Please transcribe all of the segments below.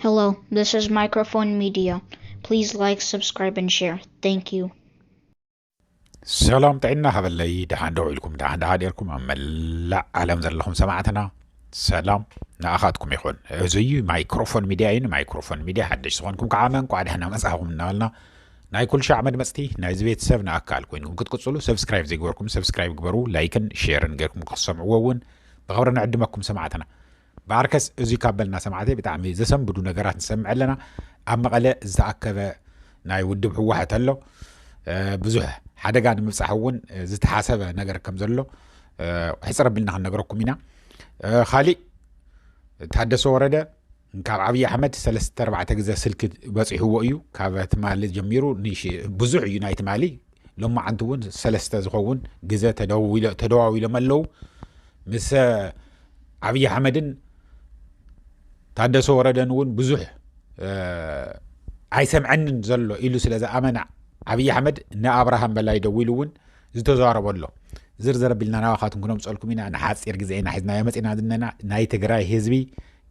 Hello, this is Microphone Media. Please like, subscribe, and share. Thank you. ሰላም ጥዕና ሃበለይ ደሓን ደው ኢልኩም ደሓን ደሓ ደርኩም ኣብ መላእ ዓለም ዘለኹም ሰማዕትና ሰላም ንኣኻትኩም ይኹን እዚ እዩ ማይክሮፎን ሚድያ እዩ ንማይክሮፎን ሚድያ ሓደሽ ዝኾንኩም ከዓ መንቋዕ ደሕና መፅእኹም እናበልና ናይ ኩል ሻዕ መድመፅቲ ናይዚ ቤተሰብ ንኣካል ኮይንኩም ክትቅፅሉ ሰብስክራይብ ዘይግበርኩም ሰብስክራይብ ግበሩ ላይክን ሼርን ገርኩም ክትሰምዕዎ እውን ብኸብሪ ንዕድመኩም ሰማዕትና ብኣርከስ እዙይ ካብ በልና ሰማዕተይ ብጣዕሚ ዘሰንብዱ ነገራት ንሰምዕ ኣለና። ኣብ መቐለ ዝተኣከበ ናይ ውድብ ህወሐት ኣሎ። ብዙሕ ሓደጋ ንምብፃሕ እውን ዝተሓሰበ ነገር ከም ዘሎ ሕፅር ኣቢልና ክንነግረኩም ኢና። ካሊእ ታደሰ ወረደ ካብ ዓብዪ ኣሕመድ ሰለስተ ኣርባዕተ ግዘ ስልኪ በፂሕዎ እዩ ካብ ትማሊ ጀሚሩ ብዙሕ እዩ ናይ ትማሊ ሎማዓንቲ እውን ሰለስተ ዝኸውን ግዘ ተደዋዊሎም ኣለው ምስ ዓብዪ ኣሕመድን ታደሰ ወረደን እውን ብዙሕ ኣይሰምዐንን ዘሎ ኢሉ ስለ ዝኣመና ዓብዪ ኣሕመድ ንኣብርሃም በላይ ደዊሉ እውን ዝተዛረቦ ኣሎ ዝርዝር ኣቢልና ናባኻትኩም ክነምፀልኩም ኢና ንሓፂር ግዜ ኢና ሒዝናዮ መፂና ዝነና ናይ ትግራይ ህዝቢ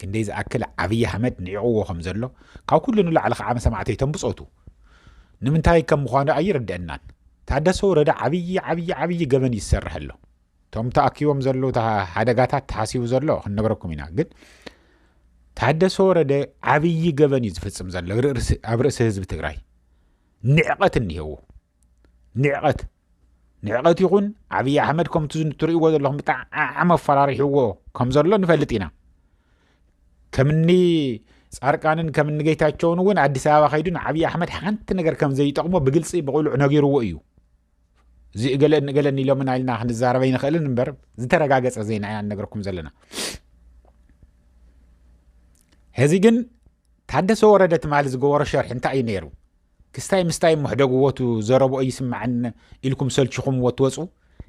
ክንደይ ዝኣክል ዓብዪ ኣሕመድ ንዕቕዎ ከም ዘሎ ካብ ኩሉ ንላዕሊ ከዓ መሰማዕተይቶም ብፆቱ ንምንታይ ከም ምዃኑ ኣይርድአናን። ታደሰ ወረደ ዓብዪ ዓብዪ ዓብዪ ገበን እዩ ዝሰርሕ ኣሎ። እቶም ተኣኪቦም ዘለዉ ሓደጋታት ተሓሲቡ ዘሎ ክንነገረኩም ኢና ግን ታደሰ ወረደ ዓብዪ ገበን እዩ ዝፍፅም ዘሎ ኣብ ርእሲ ህዝቢ ትግራይ ንዕቐት እኒሄዎ ንዕቐት ንዕቐት ይኹን ዓብዪ ኣሕመድ ከምቲ ትርእይዎ ዘለኹም ብጣዕሚ ኣፈራሪሕዎ ከም ዘሎ ንፈልጥ ኢና ከምኒ ፃርቃንን ከምኒ ጌታቸውን እውን ኣዲስ ኣበባ ከይዱ ንዓብዪ ኣሕመድ ሓንቲ ነገር ከም ዘይጠቕሞ ብግልፂ ብቕሉዕ ነጊርዎ እዩ እዚ እገለን እገለን ኢሎምን ኢልና ክንዛረበ ይንኽእልን እምበር ዝተረጋገፀ ዜና ኢና ነገርኩም ዘለና ሕዚ ግን ታደሰ ወረደ ትማሊ ዝገበሮ ሸርሒ እንታይ እዩ ነይሩ ክስታይ ምስታይ እሞ ሕደግዎ እቲ ዘረብኦ ይስመዐኒ ኢልኩም ሰልቺኹምዎ እትወፁ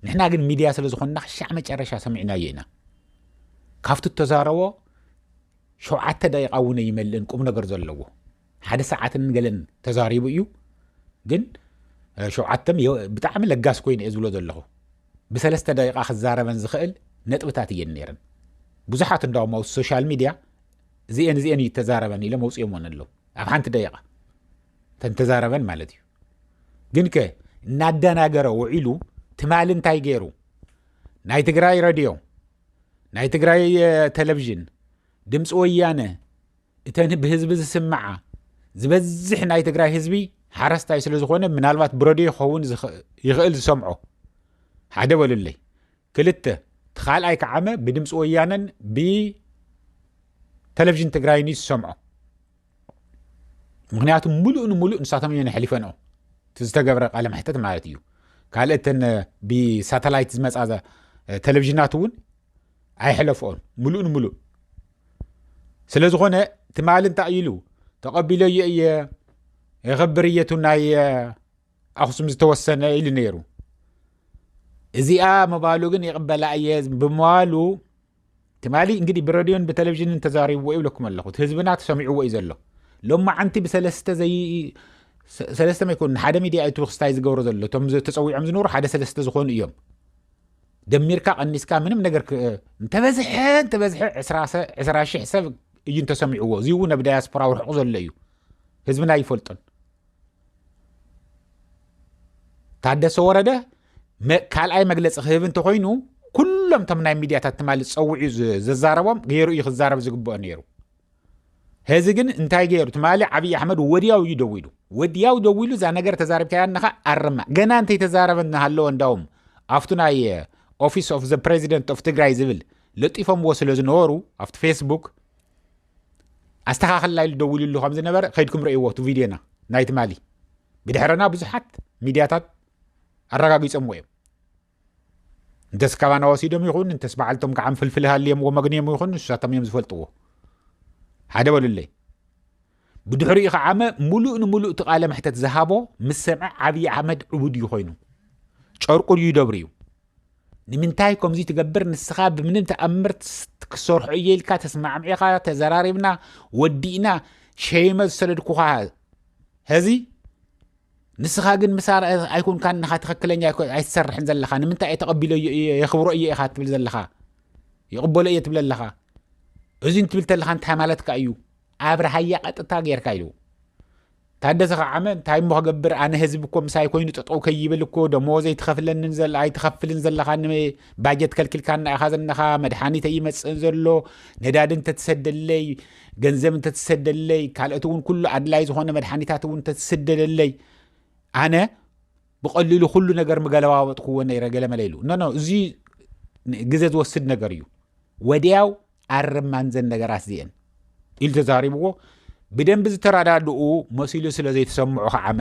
ንሕና ግን ሚድያ ስለ ዝኾንና ክሻዕ መጨረሻ ሰሚዕናዮ ኢና ካብቲ እተዛረቦ ሸውዓተ ደቂቃ እውን ኣይመልእን ቁም ነገር ዘለዎ ሓደ ሰዓትን ገለን ተዛሪቡ እዩ ግን ሸውዓተ ብጣዕሚ ለጋስ ኮይኑ እየ ዝብሎ ዘለኹ ብሰለስተ ደቂቃ ክዛረበን ዝኽእል ነጥብታት እየን ነይረን ብዙሓት እንዳውም ኣብ ሶሻል ሚድያ እዚኤን እዚኤን እዩ ተዛረበን ኢሎም ኣውፅኦምወን ኣለዉ ኣብ ሓንቲ ደቂቃ እተን ተዛረበን ማለት እዩ ግን ከ እናደናገረ ውዒሉ ትማሊ እንታይ ገይሩ ናይ ትግራይ ረድዮ ናይ ትግራይ ቴሌቭዥን ድምፂ ወያነ እተን ብህዝቢ ዝስምዓ ዝበዝሕ ናይ ትግራይ ህዝቢ ሓረስታይ ስለ ዝኾነ ምናልባት ብረድዮ ክኸውን ይኽእል ዝሰምዖ ሓደ በሉለይ ክልተ፣ እቲ ካልኣይ ክዓመ ብድምፂ ወያነን ብተለቭዥን ትግራይን እዩ ዝሰምዖ። ምክንያቱ ሙሉእ ንሙሉእ ንሳቶም እየን ኣሕሊፈንኦ እቲ ዝተገብረ ቃለ መሕተት ማለት እዩ ካልእ እተን ብሳተላይት ዝመፃ ቴሌቭዥናት እውን ኣይሕለፍኦን ሙሉእ ንሙሉእ ስለ ዝኾነ ትማሊ እንታይ ኢሉ ተቐቢለዮ እየ የኸብር እየቱ ናይ ኣኽሱም ዝተወሰነ ኢሉ ነይሩ እዚኣ ምባሉ ግን ይቕበላ እየ ብምባሉ ትማሊ እንግዲህ ብረድዮን ብቴሌቭዥንን ተዛሪብዎ ይብለኩም ኣለኹ እቲ ህዝብና ተሰሚዕዎ እዩ ዘሎ ሎማ ዓንቲ ብሰለስተ ዘይ ሰለስተ መይኮኑ ሓደ ሚድያ እቲ ክስታይ ዝገብሮ ዘሎ እቶም ተፀዊዖም ዝነበሩ ሓደ ሰለስተ ዝኾኑ እዮም ደሚርካ ቀኒስካ ምንም ነገር እንተበዝሐ እንተበዝሐ ዕስራ ሽሕ ሰብ እዩ እንተሰሚዕዎ እዚ እውን ኣብ ዳያስፖራ ውርሕቑ ዘሎ እዩ ህዝብና ይፈልጦን ታደሰ ወረደ ካልኣይ መግለፂ ክህብ እንተኮይኑ ኩሎም ቶም ናይ ሚድያታት ትማሊ ፀውዑ ዘዛረቦም ገይሩ እዩ ክዛረብ ዝግብኦ ነይሩ ህዚ ግን እንታይ ገይሩ ትማሊ ዓብዪ ኣሕመድ ወዲያው እዩ ደዊሉ ወዲያው ደዊሉ እዛ ነገር ተዛሪብካያ ነኻ ኣርማ ገና እንተይተዛረበ እናሃለወ እንዳውም ኣብቱ ናይ ኦፊስ ኦፍ ዘ ፕሬዚደንት ኦፍ ትግራይ ዝብል ለጢፎምዎ ስለ ዝነበሩ ኣብቲ ፌስቡክ ኣስተኻኸልና ኢሉ ደዊሉሉ ከም ዝነበረ ከይድኩም ረእይዎ እቲ ቪድዮና ናይ ትማሊ ብድሕረና ብዙሓት ሚድያታት ኣረጋጊፆምዎ እዮም እንተስ ካባና ወሲዶም ይኹን እንተስ በዓልቶም ከዓ ፍልፍል ሃልዮምዎ መግንዮም ይኹን ንሳቶም እዮም ዝፈልጥዎ ሓደ በሉለይ ብድሕሪኡ ከዓመ ሙሉእ ንሙሉእ እቲ ቃለ መሕተት ዝሃቦ ምስ ሰምዐ ዓብዪ ኣሕመድ ዕቡድ እዩ ኮይኑ ጨርቁ ድዩ ደብሪ እዩ ንምንታይ ከምዚ ትገብር ንስኻ ብምንም ተኣምር ክሰርሖ እየ ኢልካ ተስማዕሚዕኻ ተዘራሪብና ወዲእና ሸይመ ዝሰደድኩኻ ሀዚ ንስኻ ግን ምሳ ኣይኮንካን ንኻ ትኽክለኛ ኣይትሰርሕን ዘለኻ ንምንታይ እየ ተቐቢሎ የኽብሮ እየ ኢኻ ትብል ዘለኻ ይቕበሎ እየ ትብል ኣለኻ እዚ እንትብል ተለኻ እንታይ ማለትካ እዩ ኣብርሃያ ቀጥታ ጌርካ ኢሉ ታደሰ ከዓመ እንታይ እሞ ክገብር ኣነ ህዝቢ እኮ ምሳይ ኮይኑ ጠጠው ከይብል እኮ ደሞዘይ ትኸፍለንን ዘላ ኣይትኸፍልን ዘለኻ ባጀት ከልኪልካና ኢኻ ዘለኻ መድሓኒት ኣይመፅእን ዘሎ ነዳዲ እንተትሰደለይ ገንዘብ እንተትሰደለይ ካልኦት እውን ኩሉ ኣድላይ ዝኾነ መድሓኒታት እውን እንተትስደደለይ ኣነ ብቐሊሉ ኩሉ ነገር ምገለባበጥክዎ ነይረ ገለመለ ኢሉ ኖ እዚ ግዘ ዝወስድ ነገር እዩ ወዲያው ኣርማን ዘን ነገራት እዚኤን ኢሉ ተዛሪብዎ ብደንቢ ዝተረዳድኡ መሲሉ ስለ ዘይተሰምዑ ከዓመ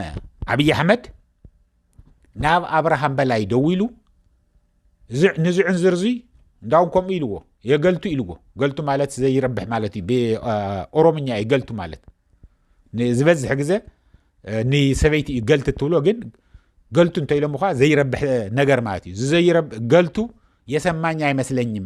ኣብዪ ኣሕመድ ናብ ኣብርሃም በላይ ደው ኢሉ ንዝዕን ዝርዚ እንዳውን ከምኡ ኢልዎ የገልቱ ኢልዎ ገልቱ ማለት ዘይረብሕ ማለት እዩ ብኦሮምኛ እዩ ገልቱ ማለት ዝበዝሕ ግዘ ንሰበይቲ እዩ ገልቲ እትብሎ ግን ገልቱ እንተኢሎም ኸዓ ዘይረብሕ ነገር ማለት እዩ ገልቱ የሰማኝ ኣይመስለኝም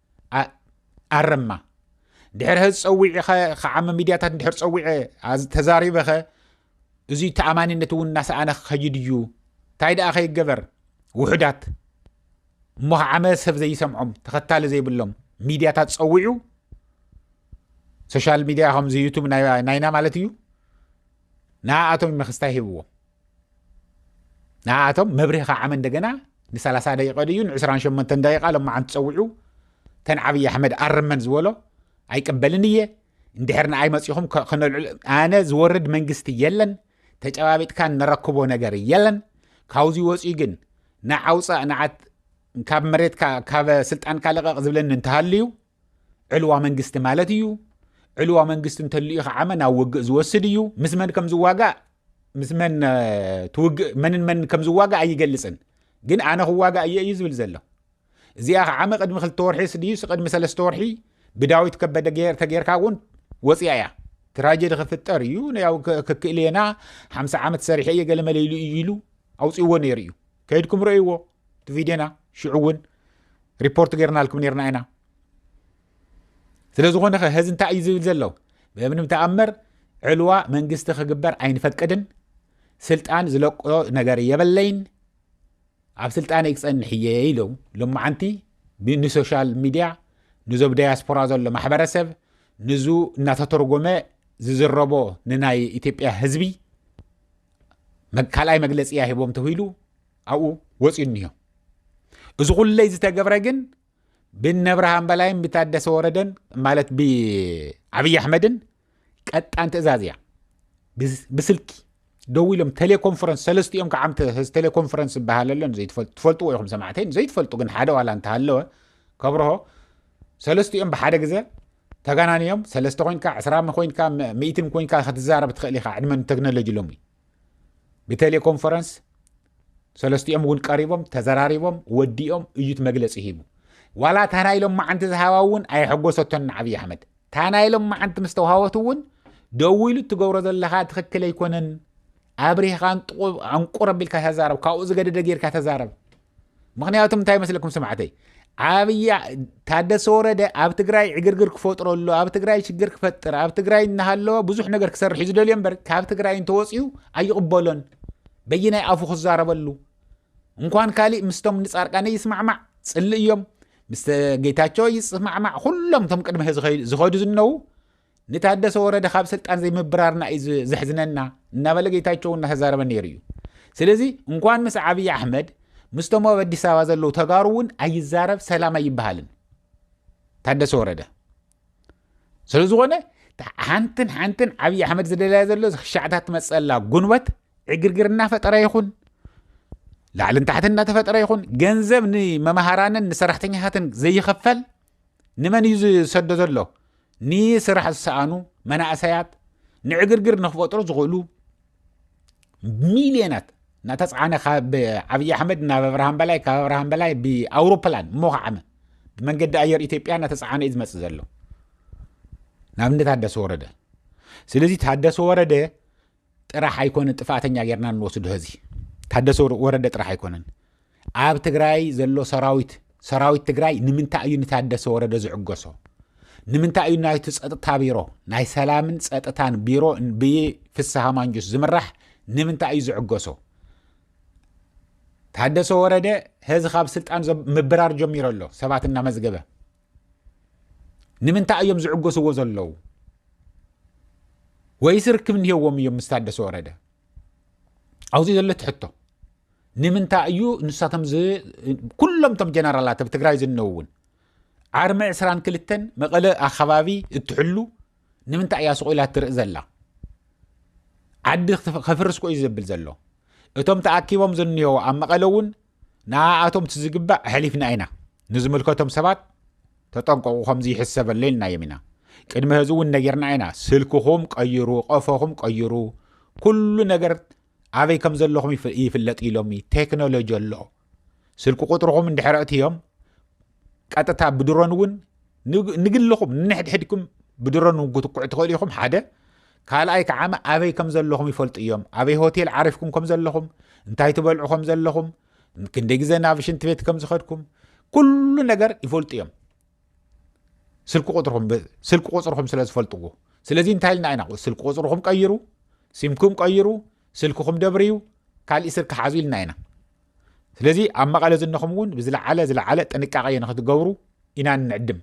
ኣረማ ድሕር ሀዚ ፀዊዒ ኸ ከዓሚ ሚድያታት ድሕር ፀዊዐ ተዛሪበ ኸ እዙ ተኣማኒነት እውን እናሰኣነ ክኸይድ እዩ እንታይ ደኣ ከይገበር ውሑዳት እሞ ከዓመ ሰብ ዘይሰምዖም ተኸታሊ ዘይብሎም ሚድያታት ፀዊዑ ሶሻል ሚድያ ከምዚ ዩቱብ ናይና ማለት እዩ ንኣኣቶም መክስታይ ሂብዎም ንኣቶም መብርሂ ከዓመ እንደገና ን30 ደቂቀ ድዩ ን28 ደቂቃ ሎማዓንቲ ፀዊዑ ተን ዓብዪ ኣሕመድ ኣርመን ዝበሎ ኣይቅበልን እየ እንድሕር ንኣይ መፂኹም ክነልዕል ኣነ ዝወርድ መንግስቲ የለን ተጨባቢጥካ ንረክቦ ነገር የለን ካብዚ ወፂኡ ግን ንዓውፃእ ንዓት ካብ መሬትካ ካብ ስልጣንካ ልቐቕ ዝብለኒ እንተሃልዩ ዕልዋ መንግስቲ ማለት እዩ ዕልዋ መንግስቲ እንተልዩ ከዓመ ናብ ውግእ ዝወስድ እዩ ምስ መን ከም ዝዋጋእ ምስ መን ትውግእ መንን መን ከም ዝዋጋእ ኣይገልፅን ግን ኣነ ክዋጋእ እየ እዩ ዝብል ዘሎ እዚኣ ከዓመ ቅድሚ ክልተ ወርሒ ስድዩ ቅድሚ ሰለስተ ወርሒ ብዳዊት ከበደ ተጌርካ እውን ወፅያ እያ ትራጀዲ ክፍጠር እዩ ያው ክክእሌና ሓምሳ ዓመት ሰሪሐ እየ ገለመለ ኢሉ እዩ ኢሉ ኣውፅዎ ነይሩ እዩ ከይድኩም ረእይዎ እቲ ቪድዮና ሽዑ እውን ሪፖርት ገርናልኩም ነርና ኢና ስለዝኾነ ኸ ህዚ እንታይ እዩ ዝብል ዘለው ብምንም ተኣምር ዕልዋ መንግስቲ ክግበር ኣይንፈቅድን ስልጣን ዝለቆ ነገር የበለይን ኣብ ስልጣነ ክፀንሕ እየ ኢሉ ሎማዓንቲ ንሶሻል ሚድያ ንዞብ ዳያስፖራ ዘሎ ማሕበረሰብ ንዙ እናተተርጎመ ዝዝረቦ ንናይ ኢትዮጵያ ህዝቢ ካልኣይ መግለፂ እያ ሂቦም ተሂሉ ኣብኡ ወፅዩ እኒሆ እዚ ኩለይ ዝተገብረ ግን ብነብርሃን በላይን ብታደሰ ወረደን ማለት ብዓብዪ ኣሕመድን ቀጣን ትእዛዝ እያ ብስልኪ ደው ኢሎም ቴሌኮንፈረንስ ሰለስትኦም ከዓ ቴሌኮንፈረንስ ዝበሃል ኣሎ ትፈልጥዎ ኢኹም ሰማዕተይ ዘይትፈልጡ ግን ሓደ ዋላ እንተሃለወ ከብርሆ ሰለስትኦም ብሓደ ግዘ ተጋናንዮም ሰለስተ ኮንካ ዕስራ ኮይንካ ምእትን ኮንካ ክትዛረብ ትኽእል ኢኻ ዕድመ ቴክኖሎጂ ሎሚ ብቴሌኮንፈረንስ ሰለስቲኦም እውን ቀሪቦም ተዘራሪቦም ወዲኦም እዩ እቲ መግለፂ ሂቡ ዋላ እታ ናይ ሎማዓንቲ ዝሃባ እውን ኣየሐጎሰቶን ንዓብዪ ኣሕመድ እታ ናይ ሎማዓንቲ ምስ ተዋሃወት እውን ደው ኢሉ እትገብሮ ዘለካ ትክክል ኣይኮነን ኣብሪህኻ ኣንቁር ኣቢልካ ተዛረብ ካብኡ ዝገደደ ጌርካ ተዛረብ ምክንያቱ እንታይ ይመስለኩም ስማዕተይ ዓብይ ታደሰ ወረደ ኣብ ትግራይ ዕግርግር ክፈጥረሉ ኣብ ትግራይ ሽግር ክፈጥር ኣብ ትግራይ እናሃለወ ብዙሕ ነገር ክሰርሕ እዩ ዝደልዮ እምበር ካብ ትግራይ እንተወፅኡ ኣይቕበሎን በይናይ ኣፉ ክዛረበሉ እንኳን ካሊእ ምስቶም ንፃርቃነ ይስማዕማዕ ፅልእ እዮም ምስ ጌታቸው ይስማዕማዕ ኩሎም እቶም ቅድሚ ዝኸዱ ዝነዉ ንታደሰ ወረደ ካብ ስልጣን ዘይምብራርና እዩ ዘሕዝነና እናበለ ጌታቸው እናተዛረበ ነይሩ እዩ ስለዚ እንኳን ምስ ዓብዪ ኣሕመድ ምስቶም ኣብ ኣዲስ ኣበባ ዘለዉ ተጋሩ እውን ኣይዛረብ ሰላም ኣይበሃልን ታደሰ ወረደ ስለ ዝኾነ ሓንትን ሓንትን ዓብዪ ኣሕመድ ዝደለያ ዘሎ ሻዕታት ትመፀላ ጉንበት ዕግርግር እናፈጠረ ይኹን ላዕልን ታሕትን እናተፈጠረ ይኹን ገንዘብ ንመምሃራንን ንሰራሕተኛታትን ዘይኸፈል ንመን እዩ ዝሰዶ ዘሎ ንስራሕ ዝሰኣኑ መናእሰያት ንዕግርግር ንክፈጥሩ ዝኽእሉ ሚልዮናት እናተፅዓነ ካብ ዓብዪ ኣሕመድ ናብ ኣብርሃም በላይ ካብ ኣብርሃም በላይ ብኣውሮፕላን እሞ ከዓመ ብመንገዲ ኣየር ኢትዮጵያ እናተፀዓነ እዩ ዝመፅእ ዘሎ ናብነት ታደሰ ወረደ ስለዚ ታደሰ ወረደ ጥራሕ ኣይኮነን ጥፋኣተኛ ጌርና እንወስዶ ህዚ ታደሰ ወረደ ጥራሕ ኣይኮነን ኣብ ትግራይ ዘሎ ሰራዊት ሰራዊት ትግራይ ንምንታይ እዩ ንታደሰ ወረደ ዝዕገሶ ንምንታይ እዩ ናይቲ ፀጥታ ቢሮ ናይ ሰላምን ፀጥታን ቢሮ ብፍስሃ ማንጁስ ዝምራሕ ንምንታይ እዩ ዝዕገሶ ታደሰ ወረደ ህዚ ካብ ስልጣን ምብራር ጀሚሮ ኣሎ ሰባት እናመዝገበ ንምንታይ እዮም ዝዕገስዎ ዘለዉ? ወይስ ርክብ እንሄዎም እዮም ምስ ታደሰ ወረደ? ኣብዚ ዘሎ እቲ ሕቶ ንምንታይ እዩ ንሳቶም ኩሎም እቶም ጀነራላት ኣብ ትግራይ ዝነው እውን ዓርሚ 22 መቐለ ኣከባቢ እትሕሉ ንምንታይ እያ ስቑኢላ እትርኢ ዘላ ዓዲ ከፍርስ ኮዩ ዘብል ዘሎ እቶም ተኣኪቦም ዝንሄዎ ኣብ መቐለ እውን ንኣኣቶም እቲ ዝግባእ ኣሕሊፍና ኢና ንዝምልከቶም ሰባት ተጠንቀቑ ከምዚ ይሕሰበለይ ኢልናዮም ኢና ቅድሚ ህዚ እውን ነጊርና ኢና ስልክኹም ቀይሩ ቀፎኹም ቀይሩ ኩሉ ነገር ኣበይ ከም ዘለኹም ይፍለጥ ኢሎሚ ቴክኖሎጂ ኣሎ ስልኪ ቁጥርኹም እንድሕረእት እዮም ቀጥታ ብድሮን እውን ንግልኹም ንንሕድሕድኩም ብድሮን እውን ክትኩዑ ትኽእሉ ኢኹም ሓደ ካልኣይ ከዓመ ኣበይ ከም ዘለኹም ይፈልጡ እዮም ኣበይ ሆቴል ዓሪፍኩም ከም ዘለኹም እንታይ ትበልዑ ከም ዘለኹም ክንደይ ግዜ ናብ ሽንት ቤት ከም ዝኸድኩም ኩሉ ነገር ይፈልጡ እዮም ስልኪ ቁፅርኹም ስልኪ ቁፅርኹም ስለ ዝፈልጥዎ ስለዚ እንታይ ኢልና ኢና ስልኪ ቁፅርኹም ቀይሩ ሲምኩም ቀይሩ ስልክኹም ደብርዩ ካልእ ስልኪ ሓዙ ኢልና ኢና ስለዚ ኣብ መቐለ ዝነኹም እውን ብዝለዓለ ዝለዓለ ጥንቃቐ ንክትገብሩ ኢና እንዕድም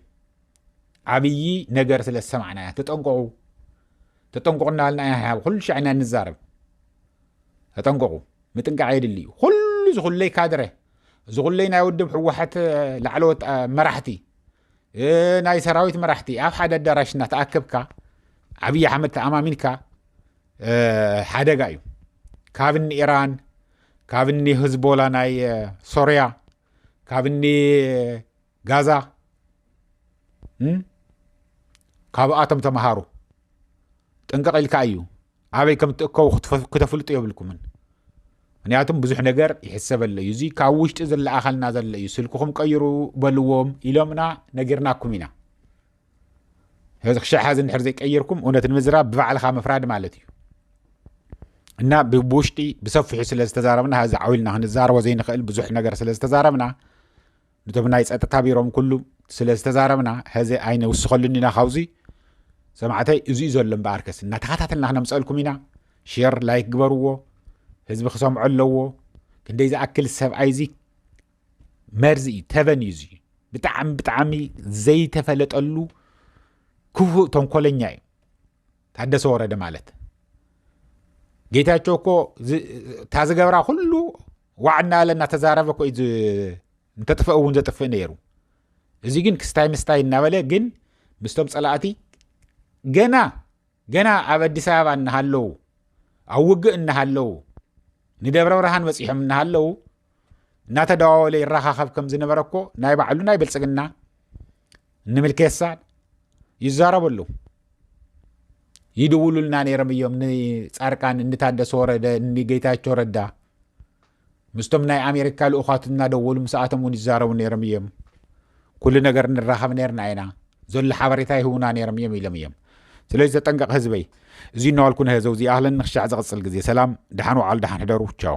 ዓብዪ ነገር ስለ ዝሰማዕና እያ ተጠንቀቑ ተጠንቀቑ እናበልና ኢና ሓብ ኩሉ ሻዕ ኢና ንዛረብ ተጠንቀቑ ምጥንቃቕ የድሊ እዩ ኩሉ ዝኹለይ ካድረ ዝኹለይ ናይ ውድብ ሕወሓት ላዕለዎት መራሕቲ ናይ ሰራዊት መራሕቲ ኣብ ሓደ ኣዳራሽ እናተኣከብካ ዓብዪ ኣሕመድ ተኣማሚንካ ሓደጋ እዩ ካብ ንኢራን ካብ እኒ ህዝቦላ ናይ ሶርያ ካብ እኒ ጋዛ ካብኣቶም ተምሃሩ ጥንቅቕ ኢልካ እዩ ኣበይ ከም እትእከቡ ክተፍልጡ የብልኩምን ምክንያቱም ብዙሕ ነገር ይሕሰበለ እዩ እዚ ካብ ውሽጢ ዝለኣኸልና ዘሎ እዩ ስልክኹም ቀይሩ በልዎም ኢሎምና ነጊርናኩም ኢና ስለዚ ክሻዕ ሓዚ እንድሕር ዘይቀየርኩም እውነት ንምዝራብ ብባዕልኻ ምፍራድ ማለት እዩ እና ብውሽጢ ብሰፊሑ ስለ ዝተዛረብና ዚ ዓውኢልና ክንዛረቦ ዘይንኽእል ብዙሕ ነገር ስለ ዝተዛረብና ነቶም ናይ ፀጥታ ቢሮም ኩሉ ስለ ዝተዛረብና ሕዚ ኣይነውስኸሉን ኢና ካብዚ ሰማዕተይ እዚዩ ዘሎ እምበኣርከስ እናተኸታተልና ክነምፀልኩም ኢና ሼር ላይክ ግበርዎ ህዝቢ ክሰምዖ ኣለዎ ክንደይ ዝኣክል ሰብኣይ እዚ መርዚ እዩ ተበን እዩ እዙ ብጣዕሚ ብጣዕሚ ዘይተፈለጠሉ ክፉእ ተንኮለኛ እዩ ታደሰ ወረደ ማለት ጌታቸው እኮ እታ ዝገብራ ኩሉ ዋዕ እናበለ እናተዛረበ ኮ እንተጥፍእ እውን ዘጥፍእ ነይሩ እዚ ግን ክስታይ ምስታይ እናበለ ግን ምስቶም ፀላእቲ ገና ገና ኣብ ኣዲስ ኣበባ እናሃለዉ ኣብ ውግእ እናሃለዉ ንደብረ ብርሃን በፂሖም እናሃለዉ እናተደዋወለ ይረኻኸብ ከም ዝነበረ እኮ ናይ ባዕሉ ናይ ብልፅግና ንምልኬሳ ይዛረቡ ኣለዉ ይድውሉልና ነይሮም እዮም ንፃርቃን እንታደሰ ወረደ ንጌታቸው ረዳ ምስቶም ናይ ኣሜሪካ ልኡኻት እናደወሉ ምስኣቶም እውን ይዛረቡ ነይሮም እዮም ኩሉ ነገር ንራኸብ ነርና ኢና ዘሎ ሓበሬታ ይህቡና ነይሮም እዮም ኢሎም እዮም ስለዚ ተጠንቀቕ ህዝበይ እዚ እናዋልኩ ንህዘው ዚኣህለን ንክሻዕ ዝቕፅል ግዜ ሰላም ድሓን ውዓሉ ድሓን ሕደሩ ቻው